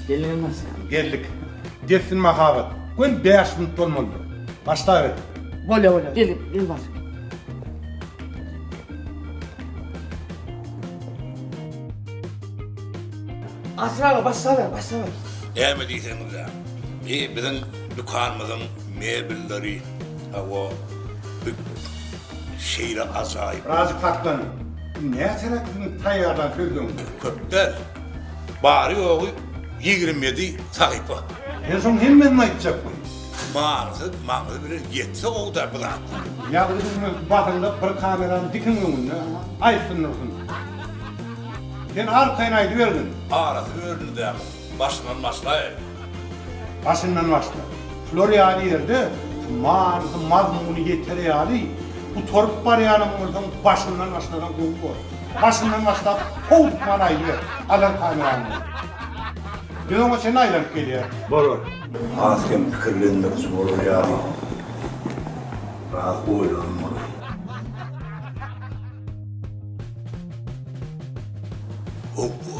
Geldiňizmi? Geldik. Dessin mahabat. Gön 5 minut bolmalydyr. Başla ber. Bolýa, bolýa. Gel, gel bar. Asraga başla ber, başla ber. Näme diýseňiz-ä? Bi biziň dükanymyzyň Mebelleri hawa hut şeýle ajaýyp. Razy Pakdan näçeräk iň taýýarlan sözleň? Köp däl. Bary ýogy ýigrimi ýedi sahypa. Sen şoň hemmesini aýtjak boýuň. Maňzy maňzy bilen ýetse gowy da bu zatlar. Ýazgy düşme basyňda bir kamerany dikiň öňünde aýtsyn dursun. Sen arkaýyn aýdybergin. Arasy bölündä. Başyndan başlaýaly. Başyndan başla. Şular ýaly ýerde manysyny, mazmuny ýeter ýaly gutaryp barýanam bolsaň, başyndan başlasaň gowy bolar. Başyndan başlap, howduk many aýdyber. Alar kamerany ol. Biz oňa çenli aýlanyp gelýäris. Bolar. Az kem pikirlendiriji bolar ýaly. Biraz oýlanmaly. Howwa.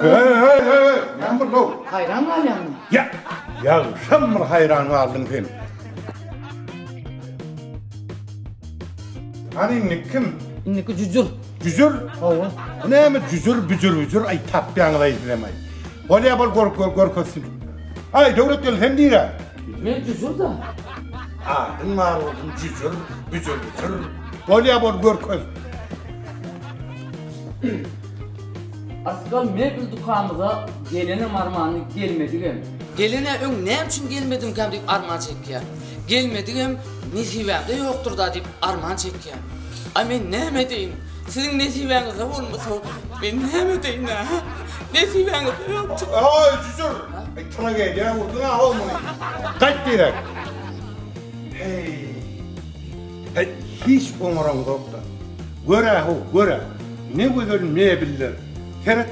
Hey hey hey hey, näme boldy ow? Haýran galýanmy? Ýa, ýagşam bir haýran galdyň sen. Hany indi kim? Indiki jüjür. Jüjür? Hawa. Bu näme jüjür, büjür, büjür, aý tapýaňyz aý sizem aý. Bolýa bol gör gör görkezsin. Aý Döwlet gel sen diýrä. Men jüjür da. Adyň bar bolsun jüjür, büjür, büjür. Bolýa bol görkez. Asgal mebel dükanymyza gelenem armany gelmedigem. Gelene öň näme üçin gelmedimkäm diýip arman çekýär. Gelmedigem nesibämde ýokdur-da diýip arman çekýär. A men näme edeýin? Siziň nesibäňizde bolmasa, men näme edeýin-ä? Nesibäňizde ýokdur. Aý, jüjür! Aý, tragediýa urduň-a, hol muny! Gaýt diýrek! Heý! Äý, hiç oňaraňzok-da. Gör-ä-how, gör-ä, ne gözel mebiller. Seret,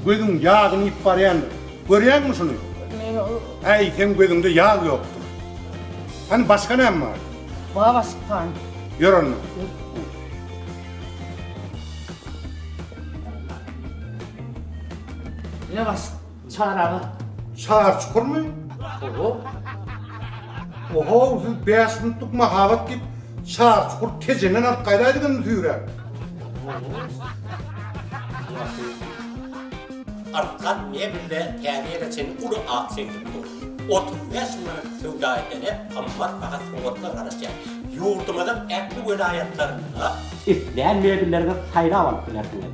gözüň ýagyny iýip barýandyr. Görýäňmi şuny? Äý, seň gözüňde ýag ýokdur. Hany, başga näme bar? Baba çykkan. Ýör onda. Ýa başga. Çaraga. Çar çukurmy? Oho. Oho, siz bäş minutlyk mahabat diýip, çar çukur Tejenden alyp gaýdaýdygyňyzy süýräp. Arkan mebelde täze ýere çenli uly ak çemçek dur. Otuz bäş manat söwda edene gymmat baha sowgatlar garaşýar. Ýurdumyzyň ähli welaýatlarynda. Islän mebellerňizi saýlap alyp bilersiňiz.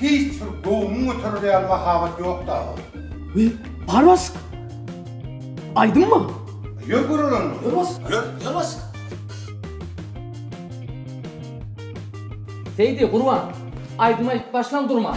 Hiç bir göwnüň göterer ýaly mahabat ýokdy agam. Wi, Barbask! Aýdymmy? Ýör göreli onda. Ýör bask. Ýör, ýör bask. Seýdi, Gurban, aýdym aýdyp başlaň durman.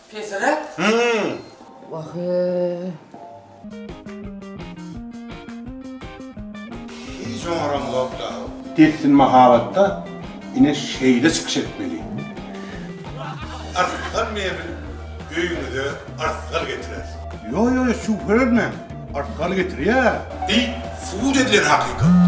Pesiräk? Hiç oňaram zok dal. Dessine mahabatda ine şeýle çykyş etmeli. Arslan mebel öýüňize arslan getirer. Ýok ýok ýok şübhe etmäň arslan getirýär. Bil subut edilen hakykat.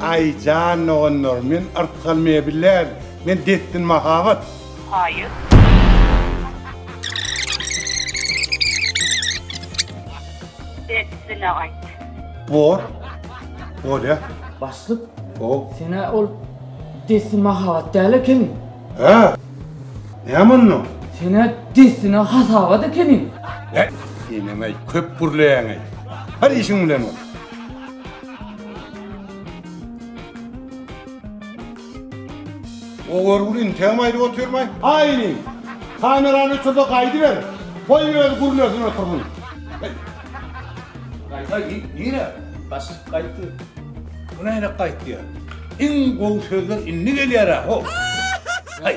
Aý jan doganlar men artgal mebel däl men dessin mahabat. Haýyr. Dessine aýt. Bor. Bolýa. Başlyk. O. Senä ol dessin mahabat däl ekeniň. Hä? Näme onda? Senä dessine hasabat ekeniň. Hä? Enemäý köp gürleýäňeý. Bar işiň bilen bol. O görgüli integem aýryp otyrmaý. Aýni. Kamerany öçürde gaýdy ber. Goý öz gurnesin otursyn. Gaýda git nire? Baş gaýtdy. Bu näne gaýtýa? Iň gowy sözler indi gelýärä ho. Haý.